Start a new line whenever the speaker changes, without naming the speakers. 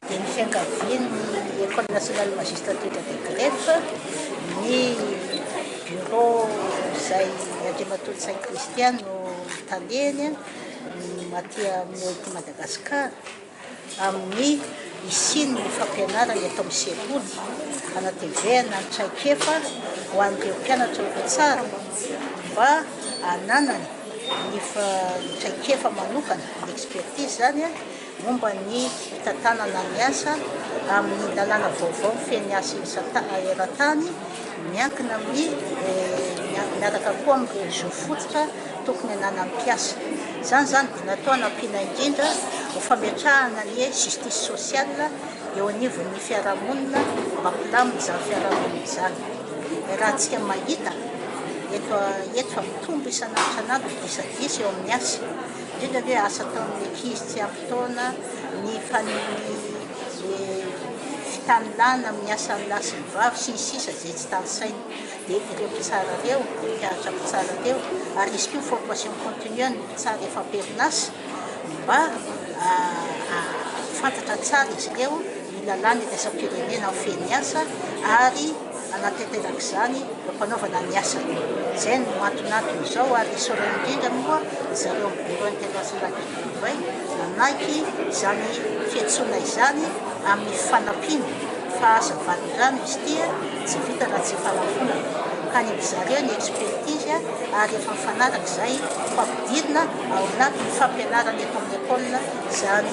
dia ny fiankavian'ny Ecole Nationale Magistrature de Greffe, ny Bureau izay Andriamatoa Ntsay Christian no Taleny aty amin'ny OIT Madagascar, amin'ny hisian'ny fampianarana eto amin'ny sekoly, hanatevehana ny traikefa ho an'ireo mpianatra ho mpitsara mba hananany ny traikefa manokana, ny expertise izany, momba ny fitantanana ny asa amin'ny lalàna vaovao feno ny asa eran-tany, miankina amin'ny miaraka koa amin'ny réseau fototra tokony ananan'ny mpiasa. Izany izany dia natao hanampiana indrindra ho fametrahana ny justice sociale eo anivon'ny fiarahamonina mba hilamina izany fiarahamonina izany. Iarahantsika mahita eto eto fa mitombo isan'andro isan'andro ny disadisa eo amin'ny asa. Indrindra ve asa ataon'ny ankizy tsy ampy taona ny faniriany fitanilana amin'ny asan'ny lahy sy ny vavy sy ny sisa izay tsy tanisainy dia ireo mpitsara ireo, mpampianatra mpitsara ireo ary hisy koa ny formation continue an'ny mpitsara efa am-perinasa mba hahafantatra tsara izy ireo. ny lalàna iraisam-pirenena ho feno miasa ary hanatanteraka izany eo am-panaovana ny asany. Izay no anton'antony izao ary isaorana indrindra moa ry zareo amin'ny Bureau International du Travail nanaiky izany fiantsoana izany amin'ny fanampiana fa aza valin-drano izy ity tsy vita raha tsy fanamponana ka ny ry zareo ny expertise ary efa mifanaraka izay ho ampidirina ao anatin'ny fampianarana eto amin'ny école izany